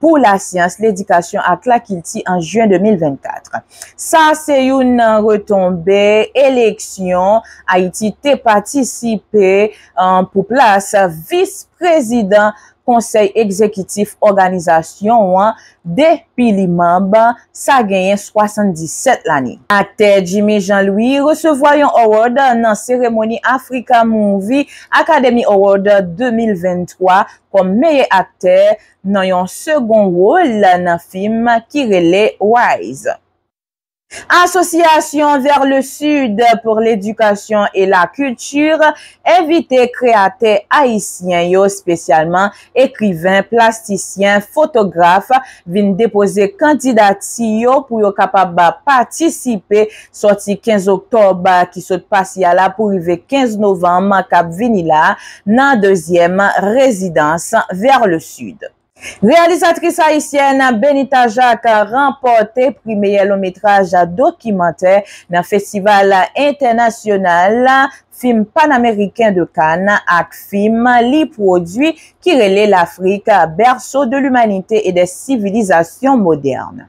pou lasyans, ledikasyon ak lakilti an jyen 2024. Sa a se youn nan retonbe eleksyon Ayiti te patisipe pou plas vis prezidan konsèy egzekitif òganizasyon an depi li manb sa genyen 77 lane. Aktè Jimmy Jean Louis resevwa yon awòd nan seremoni Africa Movie Academy Award 2023 kòm meyè aktè nan yon segon wol nan fim ki rele Wise. Asosyasyon Vers le Sud pour l'Education et la Culture envite kreyatè ayisyen yo spesyalman ekriven, plastisyen, fotograf vin depoze kandidati yo pou yo kapab patisipe sòti 15 oktòb ki sot pase a la pou rive 15 novanm k ap vini la nan dezyèm rezidans Vers le Sud. Reyalizatris ayisyèn Benita Jacques ranpòte pri meyè longmetraj dokimantè nan Festival Entènasyonal Fim Panameriken de Kann ak fim li pwodui ki rele L'Afrique, berceau de l'humanité et des civilisations modernes.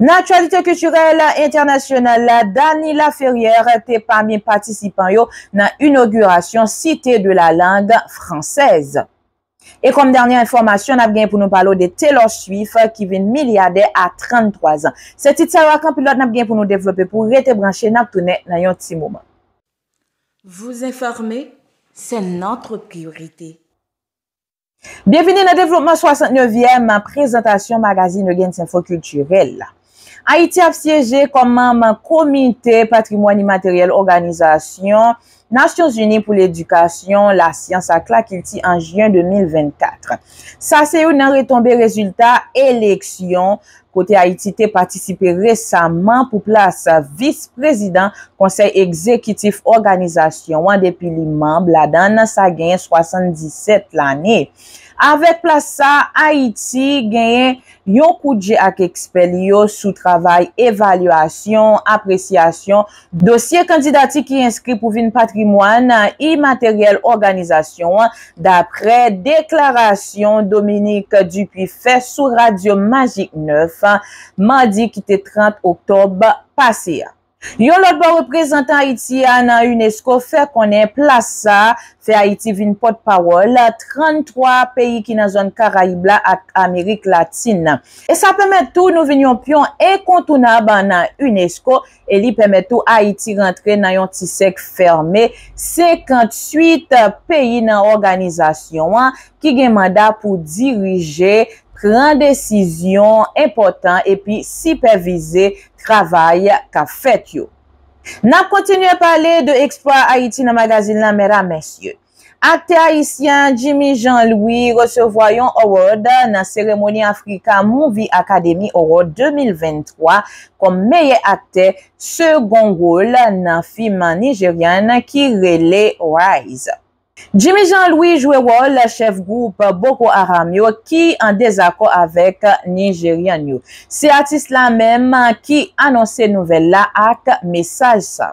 Nan aktyalite kiltirèl entènasyonal la, Dany Laferrière te pami patisipan yo nan inogirasyon Cité de la langue française. E kòm dènye enfòmasyon, nap genyen pou nou pale w de Taylor Swift ki vin milyadè a 33 zan. Se tit sa yo ak anpil lòt nap genyen pou nou devlope pou w rete branche nap tounen nan yon ti moman. Vous informer, c'est notre priorité. Byenvini nan devlopman 69 yèm prezantasyon magazin Eugens Info Culturel. Ayiti ap syeje kòm manm Komite Patrimwàn Imateryèl Òganizasyon Nasyon Zini pou Ledikasyon, Lasyans ak Lakilti an Jyen 2024. Sa se youn nan retonbe rezilta eleksyon kote Ayiti te patisipe resaman pou plas Vis Prezidan Konsèy Egzekitif òganizasyon an depi li manb ladan l sa gen 77 lane. Avèk plas sa, Ayiti genyen yon kout je ak ekspè li yo sou travay evalyasyon, apresyasyon, Dosye kandidati ki enskri pou vin patrimwàn imateryèl òganizasyon an, daprè deklarasyon Dominique Dupuy fè sou radyo Magik 9, madi ki te 30 oktòb pase a. Yon lòt bò reprezantan Ayiti a nan unesco fè konnen plas sa fè Ayiti vin pòt pawòl 33 peyi ki nan zòn Karayib la ak Amerik Latin nan, e sa pèmèt tou nou vin yon pyon enkontounab nan unesco e li pèmèt tou Ayiti rantre nan yon ti sèk fème 58 peyi nan òganizasyon an ki gen manda pou dirije, pran desizyon enpòtan epi sipèvize travay k ap fèt yo. N ap kontinye pale de eksplwa Ayiti nan magazin lan, mèdam, mèsye. Aktè ayisyen an Jimmy Jean Louis resevwa yon award nan seremoni Africa Movie Academy Award 2023 kòm meyè aktè segon wol nan fim Nigerian ki rele Rise. Jimmy Jean Louis jwe wòl chèf gwoup Boko Haram yo ki an dezakò avèk Nigerian yo. Se atis la menm ki anonse nouvèl la ak mesaj sa.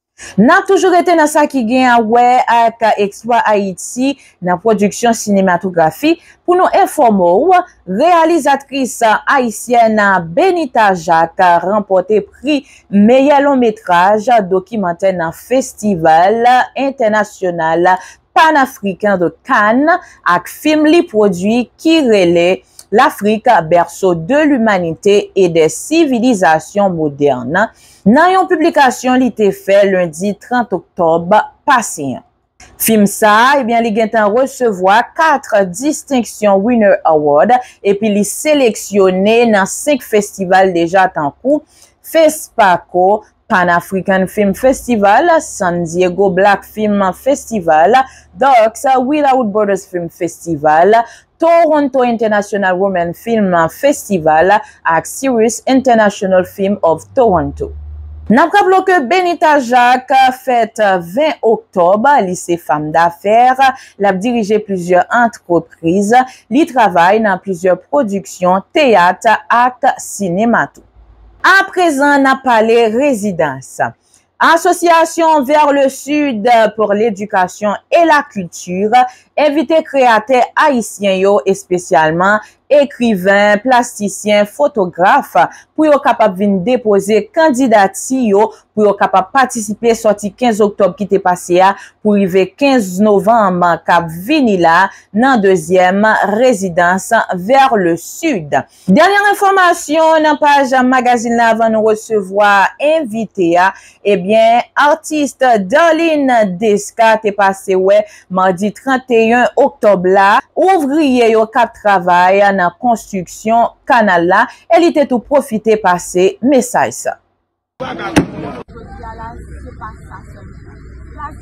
N ap toujou rete nan sa ki gen a wè ak eksplwa Ayiti nan pwodiksyon sinematografi pou nou enfòme w, reyalizatris ayisyèn Benita Jacques ranpòte pri meyè lon metraj dokimantè nan Festival Entènasyonal Panafriken de Cannes ak fim li pwodui ki rele L'Afrique, berceau de l'humanité et des civilisations modernes Nan yon piblikasyon li te fè lendi 30 oktòb pase an, fim sa a ebyen li gentan resevwa 4 distenksyon Winner Award epi li seleksyone nan 5 festival deja tankou, Fespaco, Pan African Film Festival, San Diego Black Film Festival, Darks, Without Borders Film Festival, Toronto International Women Film Festival ak Sirius International Film of Toronto. N ap raple w ke Benita Jacques fèt 20 oktòb, li se fam dafè, l ap dirije plizyè antrepriz, li travay nan plizyè pwodiksyon teyat ak sinema tou. A prezan n ap pale rezidans. Association vers le sud pour l'éducation et la culture envite kreyatè ayisyen yo espesyalman ekriven, plastisyen, fotograf pou yo kapab vin depoze kandidati yo pou yo kapab patisipe sòti 15 oktòb ki te pase a pou rive 15 novanm k ap vini la nan dezyèm rezidans vers le sud. Dènyè enfòmasyon nan paj magazin la avan nou resevwa envite a, ebyen atis Darline Desca te pase wè madi 31 oktòb la ouvriye yo kap travay nan konstriksyon kanal la e li te tou pwofite pase mesaj sa. Jodi a la, se pa sa sèlman. Plas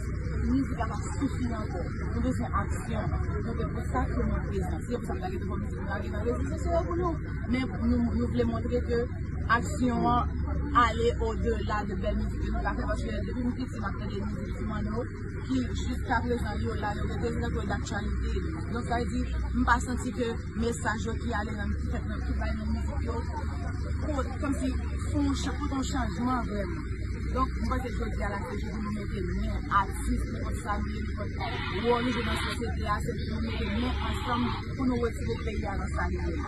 mizik la pa sifi ankò. Nou bezwen aksyon. Se te pou sa ke nou prezan. Se te pou sa nou lage nouvo mizik nou lage nan rezo sosyo yo pou nou. Men nou vle montre ke aksyon an ale odela de bèl mizik ke nou ka fè. Paske depi m piti m ap tande mizik Ti Manno. ki jiska prezan yo la yo rete nan to daktyalite donk sa vle di m pa santi ke mesaj yo ki ale nan ki fèt nan ki bay nan mizik yo pot kòmsi fon pot yon chanjman vrèman donk m panse jodi a la se jou pou nou mete men atis li pot sa li ye li pot wòl li jwe nan sosyete a se pou nou mete men ansanm pou nou retire peyi a nan sa li ye la.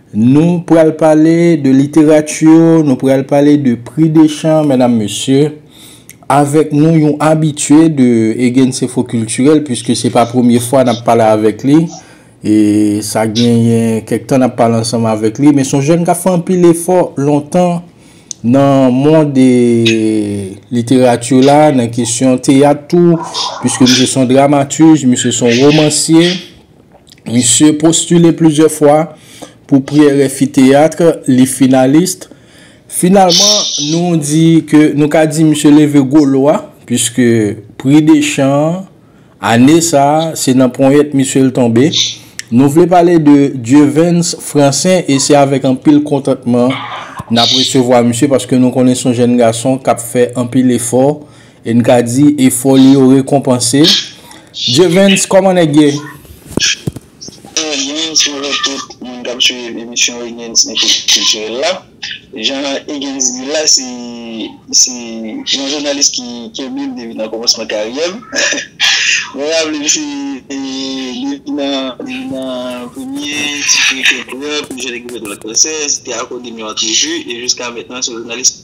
Nou pral pale de literati, nou pral pale de pri de chan, medam mesye. Avèk nou yon abitye de Egensinfo Kiltirèl, piske se pa premye fwa n ap pale avèk li. E sa genyen kèk tan n ap pale ansanm avèk li. Men s on jèn k ap fè anpil efò lontan nan mond literati la, nan kesyon teyat tou. Piske misye s on dramatij, misye s on womansye. Misye postile plizyè fwa pou pri RFI Théâtre, li finalist. Finalman, nou di ke nou ka di misye leve gwo lo a, puiske pri Deschamps an, ane sa, se nan ponyèt misye l tonbe. Nou vle pale de Dieuvens Francin e se avèk anpil kontantman n ap resevwa misye paske nou konnen se yon jèn gason k ap fè anpil efò E n ka di efò li yo rekonpanse. Jevens, kòman nèg ye? Jevens, bonjou tout moun k ap suiv emisyon Higgins Info Culturel la. Jan Higgins di l la, se yon jounalis ki kenbe m depi nan kòmansman karyè m. Mwen raple m se depi nan premye ti feyton pou Jean Egri Bedouin Lacossais, te akòde m yon antrevi e jiska mètnan se yon jounalis.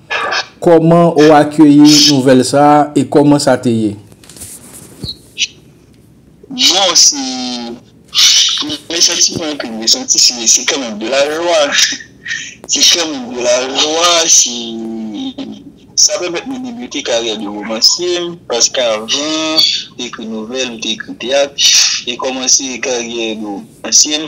Kòman ou akeyi nouvèl sa e kòman sa te ye? Bon, se premye santiman an ke m te santi, se kanmenm de la jwa. Se kanmenm de la jwa, se sa pèmèt mwen debite karyè de womansye m, paske avan ekri nouvèl ou te ekri teyat, e kòmanse karyè de womansye m.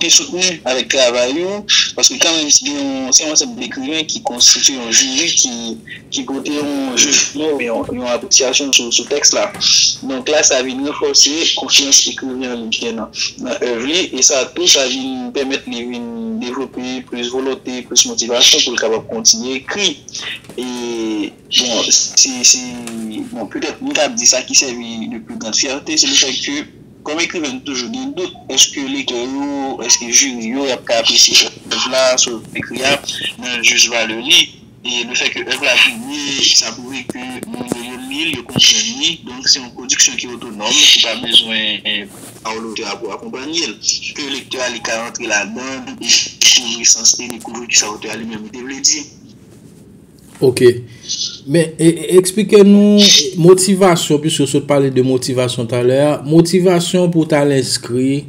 te soutni avèk travay yo, paske kanmenm se yon se yon ansanm dekrimen ki konstitye yon jiri ki ki pote yon jijman oubyen yon yon apresyasyon sou sou tèks la. Donk la sa vin ranfòse konfyans ekriven an li gen nan nan èv li e sa tou sa vin pèmèt li vin devlope plis volonte, plis motivasyon pou l kapab kontinye ekri e bon se se bon petèt m ta di sa ki sèvi de pli gran fyète se lefètke Kòm ekriven nou toujou gen dout èske lektè yo, èske jiri yo ap ka apresye èv la sou ekri a nan jis valè li. E lefè ke èv la pibli, sa pwouve ke moun yo yo li l, yo konprann li, donk se yon pwodiksyon ki otonòm, ki pa bezwen pawòl otè a pou akonpanye l. Ke lektè a li ka rantre ladan l e dekouvri sans li, dekouvri kisa otè a li menm li te vle di. Ok, men eksplike nou motivasyon, pwiske ou sot pale de motivasyon talè a, motivasyon pou tal enskri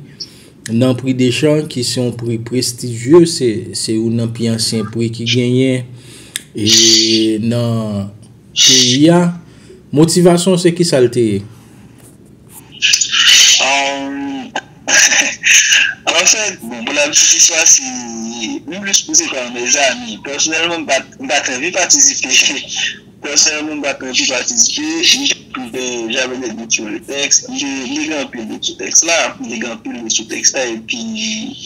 nan pri Deschamp ki se yon pri prestijye, se yon nan pi ansyen pri ki genyen e nan peyi a, motivasyon se ki sa l te ye? Anfèt, bon pou la piti istwa se m plis pou se pa yon mezanmi. Pèsonèlman m pa t anvi patisipe, pèsonèlman m pa t anvi patisipe. J'avais des doutes sur le texte, m te m te gen anpil dout sou tèks la, m te gen anpil dout sou tèks la epi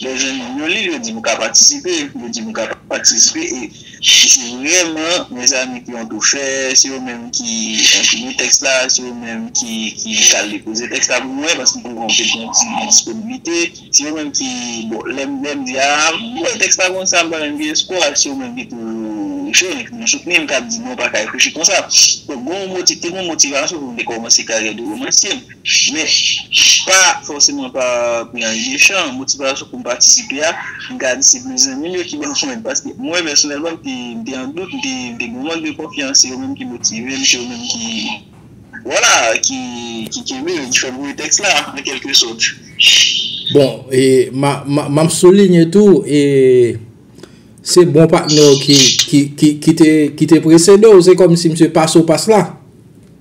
lè zanmi m yo li l yo di m ou ka patisipe, yo di m ou ka patisipe e Se vreman mezanmi pou yon tou fè, se yo menm ki enprime tèks la, se yo menm ki al depoze tèks la pou mwen, paske m te wè yo te gen ti endisponblite, se yo menm ki, bon, lè m di a, m wè tèks la konsa, m pa menm gen espwa, se yo menm ki toujou cho, ki toujou soutni m, k ap di non, pa ka ekriti konsa. Donk, te gen yon motivasyon pou m te kòmanse karyè de womansye m. Men, pa fòseman pa pou yon ane mechan, motivasyon pou m patisipe a, m ka di se plis zanmi m yo ki ban mwen l. Paske mwen pèsonèlman m te m te an dout, m te m te gen yon mank de konfyans, se yo menm ki motive m, se yo menm ki, vwala, ki ki kenbe m, ki fè m voye tèks la, an kèlke sòt. Bon, e m a m a m ap soulinye tou, e se bon patnè w ki ki ki ki te ki te presede w, se kòmsi misye pase w pas la.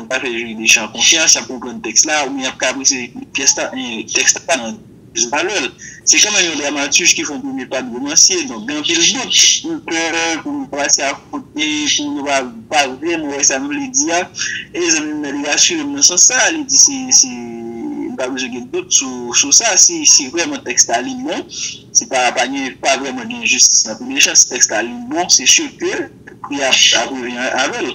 An ka fè Jiri Deschamps konfyans, y ap konprann tèks la, oubyen y ap kaprese pyès la, tèks la pa nan jis valè l. Se kanmenm yon dramatij ki fè yon premye pa de womansye, donk gen anpil dout. M pè pou m pase a kote, pou moun yo pa pa vrèman wè sa m vle di a. E zanmi m nan li rasire m nan sans sa, li di si, si, m pa bezwen gen dout sou, sou sa, si, si vrèman tèks la li bon, si pa, pa gen, pa vrèman gen enjistis nan tou de jan, si tèks la li bon, se si ke pri a ap, ap revi avè l.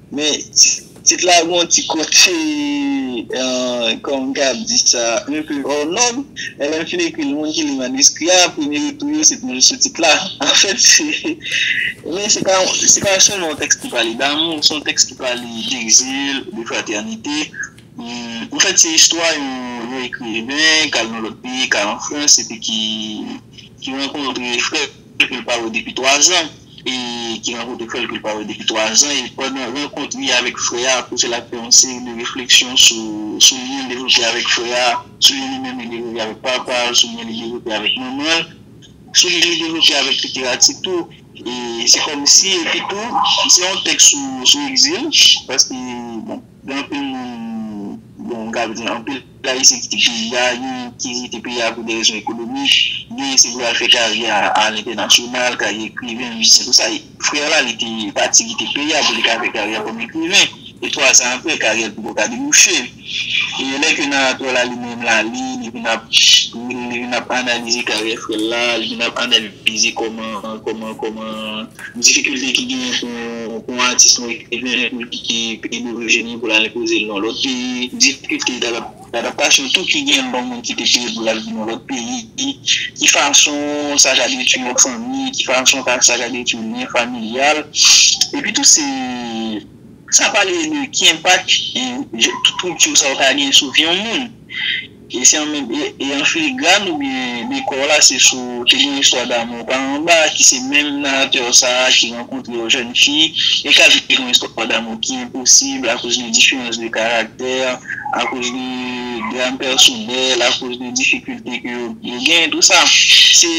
Men tit la gon ti kote kòman kab di sa un peu hors norme men lèm fin ekri l moun ki li maniskri a premye retou yo se toujou sou tit la anfèt se men se pa se pa sèlman yon tèks ki pale damou se yon tèks ki pale d'exil de fraternite anfèt se istwa yon ekriven kal nan lòt peyi kal an frans epi ki ki rankontre frè fè kül pa wè depi 3 zan e ki rankontre frè l kül pa wè depi 3 zan e pandan rankont li avèk frè a pwofesè la fè yon seri de refleksyon sou lyen l devlope avèk frè a, sou lyen li menm li devlope avèk papa l, sou lyen li devlope avèk manman l, sou lyen li devlope avèk literati tou e se kòmsi epi tou se yon tèks sou egzil paske bon gen anpil moun bon m ka di anpil. La Risi kite peyi a, yo ki kite peyi a pou de rezon ekonomik, genyen se pou yo al fè karyè a lentènasyonal, karyè ekriven, mizisyen tout sa. Frè la li te pati kite peyi a pou li ka fè karyè kòm ekriven e twazan apre karyè l poko ka debouche. E lè ke Naratò la li menm la li, li vin ap li vin ap analize karyè frè l la, li vin ap analize kòman kòman kòman. difikilte ki genyen pou yon atis nou ekriven pou l kite peyi dorijin li pou l al enpoze l nan lòt peyi, difikilte dadaptasyon tou ki genyen lè yon moun kite peyi l pou l al viv nan lòt peyi, ki fason sa ka detwi yon fanmi, ki fason sa ka detwi lyen familyal. Epi tou se san pale de ki enpak tout strikti sa yo ka genyen sou vi yon moun. Kesyon an menm e an filigràn oubyen dekò la se sou te gen istwa damou pa anba ki se menm naratè sa a ki rankontre yon jèn fi e k ap viv yon istwa damou ki enposib akoz de diferans de karaktè, akoz de dram pèsonèl, akoz de difikilte ke yo gen, tou sa. Se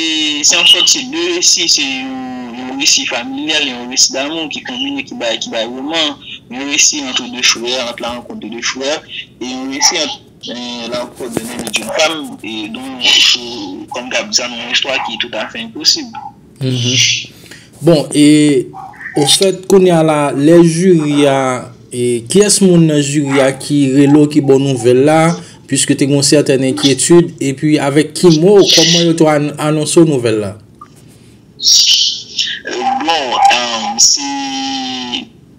yon sòt se de resi, se yon resi familyal, yon resi damou ki konbine ki bay roman, yon resi antre de frè, ant la rankont de de frè e yon resi ant. Men la ou poko byen renmen job pam e don ou konn kap di sa nan yon istwa ki tout afè enposib. Bon e ofèt kounya la lè jiri a e kiyès moun nan jiri a ki rele w ki ba w nouvèl la puiske te gen yon sètèn enkyetid epi avèk ki mo kòman yo te anonse w nouvèl la? Bon se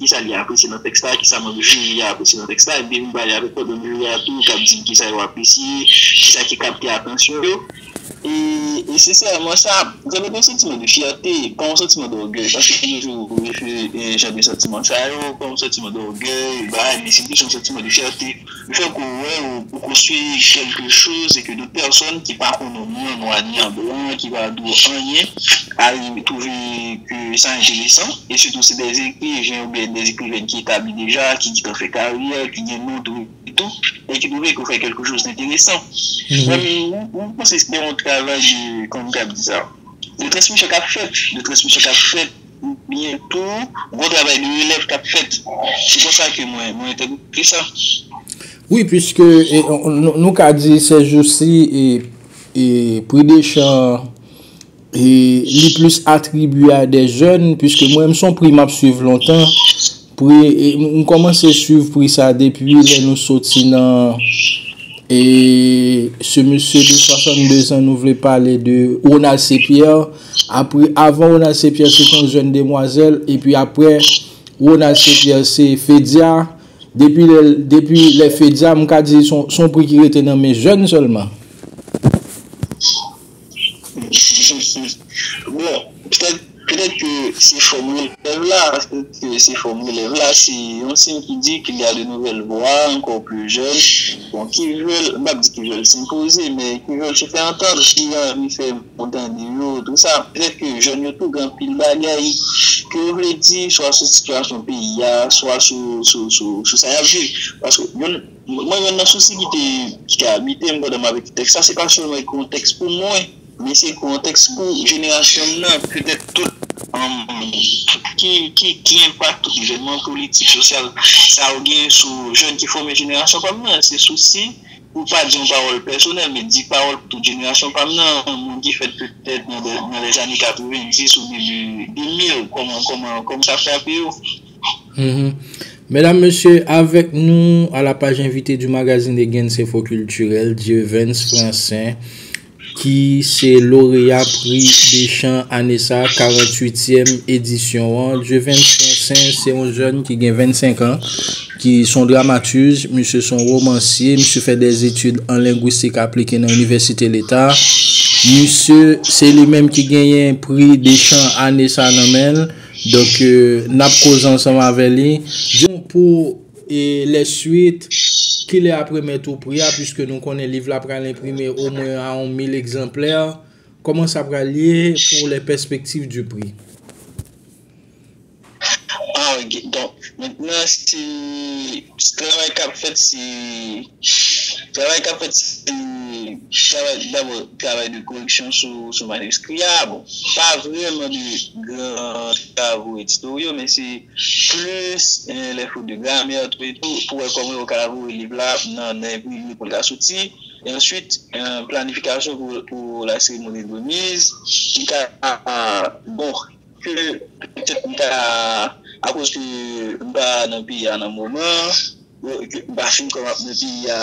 Ki sa li apresye nan tèks la? Ki sa manm jiri a apresye nan tèks la? Epi m pale avèk lòt manm jiri a tou, k ap di m ki sa yo apresye, ki sa ki kapte atansyon yo. E sensèman, sa done m yon santiman de fyète, pa yon santiman dògèy, paske m toujou refere jan de santiman sa yo kòm santiman dògèy, bagay, men se plis yon santiman de fyète. M fè kou wè w pou konstwi kèlke choz e ke de pèsòn ki pa konnen ni an nwa ni an blan, ki pa di w anyen, arive twouve ke sa enteresan. E sitou se de ekriven oubyen de ekrivèn ki etabli deja, ki gentan fè karyè, ki gen non tou e tou, e ki twouve ke w fè kèlke choz enteresan. Men ou panse se te yon travay de, kòman m ka di sa, de transmisyon k ap fèt, de transmisyon k ap fèt. Byen tou ou, gwo travay de relèv kap fèt. Se konsa ke mwen entèprete sa. Wi, pwiske nou ka di sèjousi pri Dechan li plis atribye a de jèn, pwiske mwen menm son pri map swiv lontan. Pri, m kòmanse swiv pri sa depi lè nou soti nan e se mesye de 62 zan nou vle pale de Ronald C. Pierre. Apre, avan Ronald C. Pierre se t yon jèn demwazèl epi apre Ronald C. Pierre se Fedia. Depi lè, depi lè Fedia m ka di son pri ki rete nan men jèn sèlman. Bon, petèt, petèt ke se fòm relèv la, se fòm relèv la, se yon siy ki di ke li a de nouvèl vwa, ankò pli jèn, bon, ki vle, m pa di ki vle senpoze, men ki vle se fè antann, ki anvi fè moun tande yo, tou sa, petèt ke jèn yo tou gen anpil bagay ke yo vle di, swa sou sitiyasyon peyi a, swa sou sa y ap viv, paske yon. Mwen jwenn nan sousi ki te ki te abite m pandan m ap ekri tèks la, se pa sèlman ekri yon tèks pou mwen, men se ekri yon tèks pou jenerasyon m nan, petèt tout ki ki ki enpak tout evènman politik, sosyal sa yo genyen sou jèn ki fòme jenerasyon pa m nan. Se sousi pou pa di yon pawòl pèsonèl, men di pawòl pou tout jenerasyon pa m nan, moun ki fèt petèt nan lèzane 90 ou debi 2000, kòman kòman kòman sa frape yo. Medam mesye avèk nou a la paj envite di magazin de Gen Sefo Kiltirèl Dieuvenes Francin ki se loreya pri de chan ane sa 48 yèm edisyon an Dieuvenes Francin se yon jèn ki gen 25 an ki son dramatij misye son romansye misye fè de etid an lengwistik aplike nan inivèsite leta misye se li menm ki genyen pri de chan ane sa nan menl. Donk n ap koze ansanm avè li. Di nou pou lè swit, ki lè ap remèt ou pri a piske nou konnen liv la pral enprime omwen a on mil egzanplè. Kòman sa pral ye pou lè pèspektiv di pri? Donk, mentnan se travay k ap fèt se Travay k ap fèt se travay dabò travay de koreksyon sou maniskri a, bon pa vrèman de gran travo editoryò men se plis lè fot de gramè e tou pou wè kòman yo ka voye liv la nan enprime pou l ka soti e answit planifikasyon pou la seremoni de remiz ki ka bon. Ke petèt m ta akoz ke m pa nan peyi a nan moman an, ke m pa fin kòmanse nan peyi a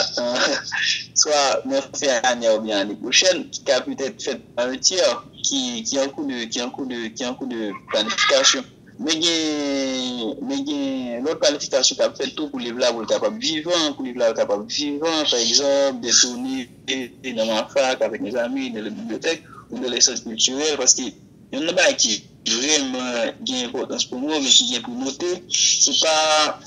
swa nan fen ane a oubyen ane pwochèn, ki ka petèt fèt an yon tyè ki an kou de, ki an kou de, ki an kou de planifikasyon. Men gen, men gen lòt planifikasyon k ap fèt tou pou liv la pou l kapab vivan, pou liv la kapab vivan, pa egzanp, de toune nan MAFAK avèk mezanmi, nan lòt bibliyotèk, ou nan lòt sant kiltirèl, paske Youn nan bagay ki vrèman gen enpòtans pou mwen oubyen ki gen pou note, se pa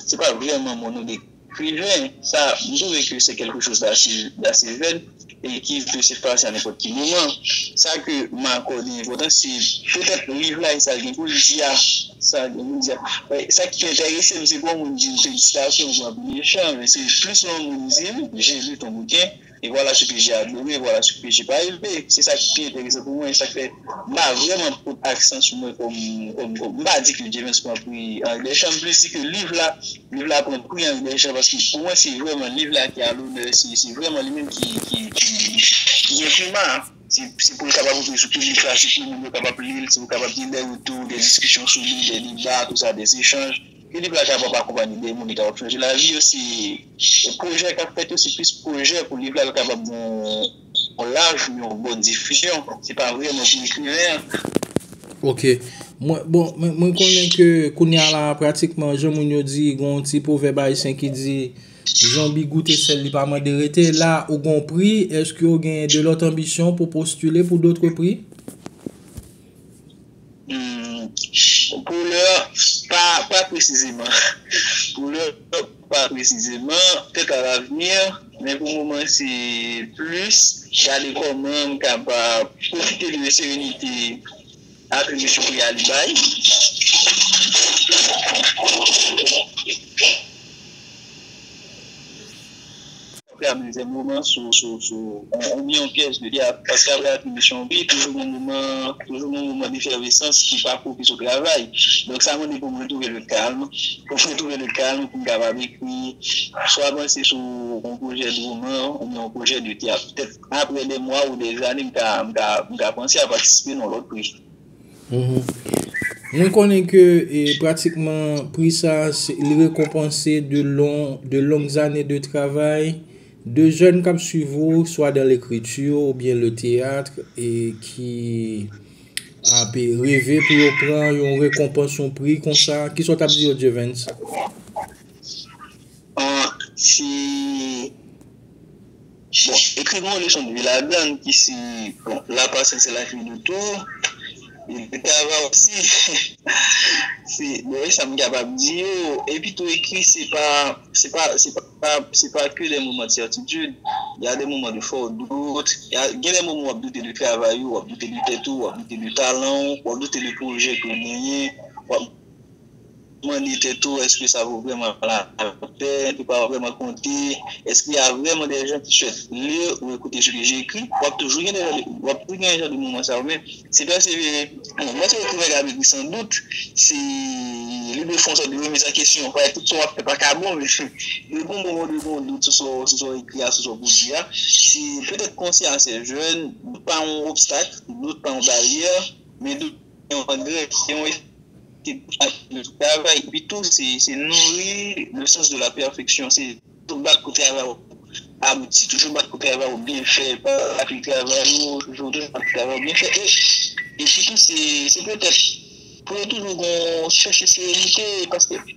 se pa vrèman mon nou dekri men sa m twouve ke se kèlke choz dase dase vèd e ki pe se pase a nenpòt ki moman. Sa ke m akòde enpòtans se petèt liv la e sa l gen pou l di a, sa l gen pou l di a. Men sa ki enterese m se pou yon moun di m felisitasyon pou anpil echan men se plis yon moun di m, J'ai lu ton bouquin. E vwala si PG a boure, e vwala si PG pa rive. Se sa ki pi enteresan pou mwen. Sa k fè m pa vrèman pot aksan sou mwen kòm, kòm, kòm. M pa di ke Jevens pran pri Anri Dèchan. M plis di ke liv la, liv la pran pri Anri Dèchan paske pou mwen se vrèman liv la ki a lonè. Se, se vrèman li menm ki, ki, ki, ki gen prima. Se, se pou l kapab rantre sou piblik la, se pou moun yo kapab li l, se pou kapab gen dè retou, dè diskisyon sou li, dè deba, tou sa, dè echanj. Filip Lajapon pa konprann ide moun li ta wap chanje lavi yo se pwojè kap fèt yo se plis pwojè pou liv la l kapab gen yon laj ou yon bon difizyon se pa vrèman pou ekriven an. Ok mwen bon mwen konnen ke kounya la pratikman jan moun yo di gen yon ti pwovèb ayisyen ki di zonbi goute sèl li pa mande rete la ou gen yon pri eske ou gen de lòt anbisyon pou postile pou dotre pri? Poulè pa presizeman. Poulè pa presizeman, pètèt a lavni, men pou moman se plis gade kòman m ka pa pwofite de serenite ak lespri a li bay. Frè mwen gen moman sou ou byen yon pyès de teyat paske apre atribisyon pi toujou gen moman toujou gen moman defèvesans ki pa pwopis ou travay donk sa mande pou m retouve le kalm pou m retouve le kalm pou m kapab ekri swa panse sou yon pwojè de woman ou byen yon pwojè de teyat petèt apre de mwa ou de zane m ka m ka panse a patisipe nan lòt pri. Mwen konnen ke pratikman pri sa li rekonpanse de long zane de travay de jèn k ap swiv ou swa dan lekriti ou byen le teyat e ki ap reve pou yo pran yon rekonpans yon pri konsa. Ki sa w t ap di yo Jevens? Bon, ekri mou leson de la gang ki si bon la passion c'est la clé de tout et de travail aussi se bon e sa m kapab di yo epi tou ekri se pa se pa se pa se pa ke des moments de certitude y a des moments de fort doute gen des moments w ap doute de travay ou w ap doute de tèt ou w ap doute de talan w w ap doute de projè ke w genyen w ap Mande tèt ou, èske sa vo vrèman lapèn? Ou pa vrèman konte? Èske y a vrèman dè jan ki swèt li ou ekoute se ke j'ekri? W ap toujou gen dè jan de moman sa yo men se pèsevere. Bon, lè se ekriven k ap ekri san dout se li dwe fè yon sòt de remiz an kesyon. Parèt tout sa w ap fè pa ka bon men dwe gen yon moman ou dwe gen yon dout sou sa w ekri a, sou sa w pwodui a. Se petèt konsyans jèn, dout pa yon obstak, dout pa yon baryè men dout. se yon angrè, se yon estil pou machin yo travay, epi tou se nouri le sans de la perfection, se toujou bat pou travay ou abouti, toujou bat pou travay ou byen fè, pa rache travay ou, toujou bat pou travay ou byen fè, epi tou se petèt pou yo toujou gon chèche serenite, paske.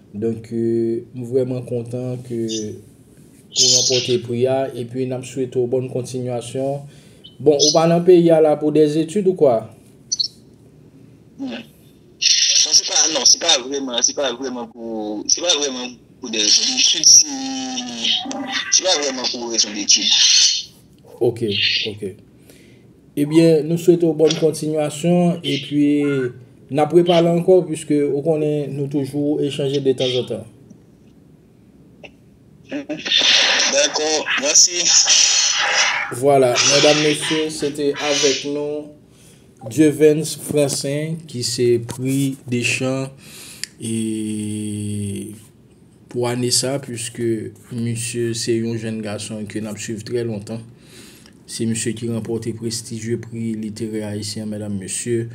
Donk m vrèman kontan ke ou ranpòte pri a epi n ap swete w bòn kontinyasyon. Bon ou pa nan peyi a la pou des études ou kwa? Non se pa vrèman se pa vrèman pou se pa vrèman pou des études se pa vrèman pou rezon d'études. Ok ok. Ebyen nou swete w bòn kontinyasyon epi n ap repale ankò pwiske ou konnen nou toujou echanje detanzantan. Dako, mèsi. Vwala, medam mesye, se te avèk nou Dieuvens Francin ki se pri Deschamps e. pou ane sa puiske misye se yon jenn gason ke n ap swiv trè lontan. Se misye ki ranpòte prestijye pri literè ayisyen medam mesye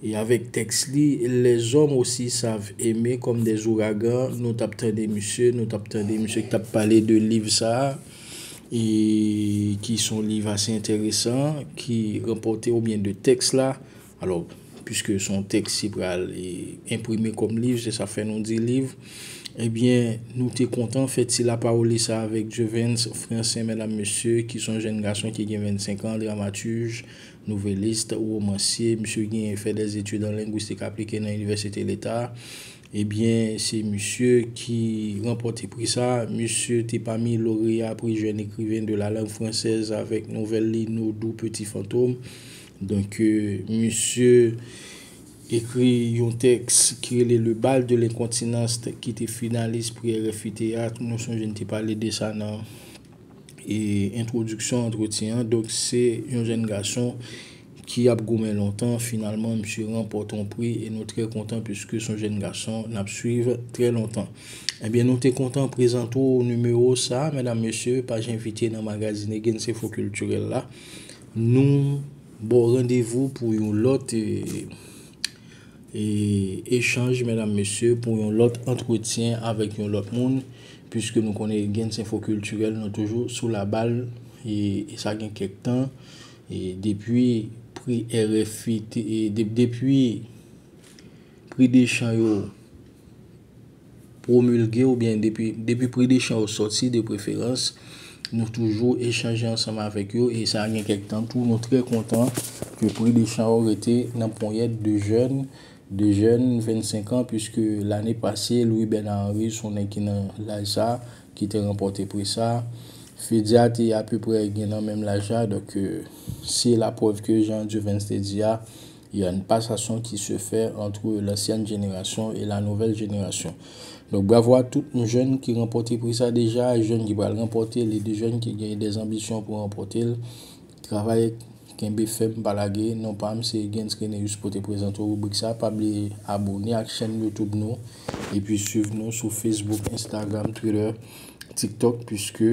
e avèk tèks li Les hommes aussi savent aimer comme des ouragans nou t ap tande misye nou t ap tande misye ki t ap pale de liv sa a e ki son liv ase enteresan ki ranpòte oubyen de tèks la. Alò, piske son tèks ki pral enprime kòm liv, se sa fè nou di liv, ebyen nou te kontan fè ti lapawoli sa avèk Jevens Francen, medam mesye, ki son jèn gason ki gen 25 an, dramatij, nouvelist, womansye, misye genyen fè dè etid an lengwistik aplike nan Inivèsite Leta, ebyen se misye ki ranpòte pri sa, misye te pami loreya pri jèn ekriven de la lang fransèz avèk nouvèl li Nodou Peti Fantom, Donk misye ekri yon tèks ki rele Le bal de l'incontinence ki te finalis pri RFI Théâtre, mwen sonje n te pale de sa nan entwodiksyon antretyen an. Donk se yon jèn gason ki ap goumen lontan, finalman misye ranpòte yon pri e nou trè kontan puiske son jèn gason n ap swiv trè lontan. Ebyen nou te kontan prezante w nimewo sa a medam mesye, paj envite nan magazin Egense Fò Kiltirèl la. Nou baw randevou pou yon lòt echanj medam mesye, pou yon lòt antretyen avèk yon lòt moun, puiske nou konnen gen ti enfo kiltirèl nou toujou sou la bal e sa gen kèk tan e depi pri RFI te depi pri dechan yo. pwomilge oubyen depi pri de chan yo sòti de preferans nou toujou echanje ansanm avèk yo e sa gen kèk tan tou nou trè kontan ke pri de chan yo rete nan ponyèt de jèn de jèn 25 an pwiske lane pase Louis Bernard Henri son nèg ki nan laj sa ki te ranpòte pri sa Fedia te apeprè gen nan menm laj la donk se la prèv ke jan Duvens te di a. Il y a une passation qui se fait entre l'ancienne génération et la nouvelle génération. Donc bravo à tout m jèn ki ranpòte pri sa deja, jèn ki pral ranpòte l e de jèn ki gen des anbisyon pou ranpòte l. Travay kenbe fèm pa lage. Non pa m se Gens Reneus pou te prezante w ribrik sa. Pa bliye abone ak chèn YouTube nou epi swiv nou sou Facebook, Instagram, Twitter, TikTok puiske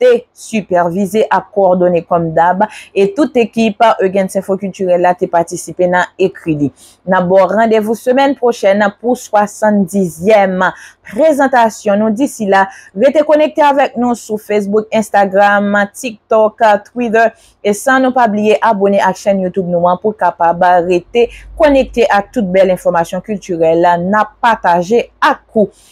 te sipèvize ak kowòdone kòm dab e tout ekip Eugens Info Culturel la te patisipe nan ekri li. N ap ba w randevou semèn pwochèn pou 70 zyèm prezantasyon nou disi la rete konekte avèk nou sou Facebook, Instagram, TikTok, Twitter e san nou pa bliye abone ak chèn YouTube nou an pou kapab rete konekte ak tout bèl enfòmasyon kiltirèl n ap pataje ak ou.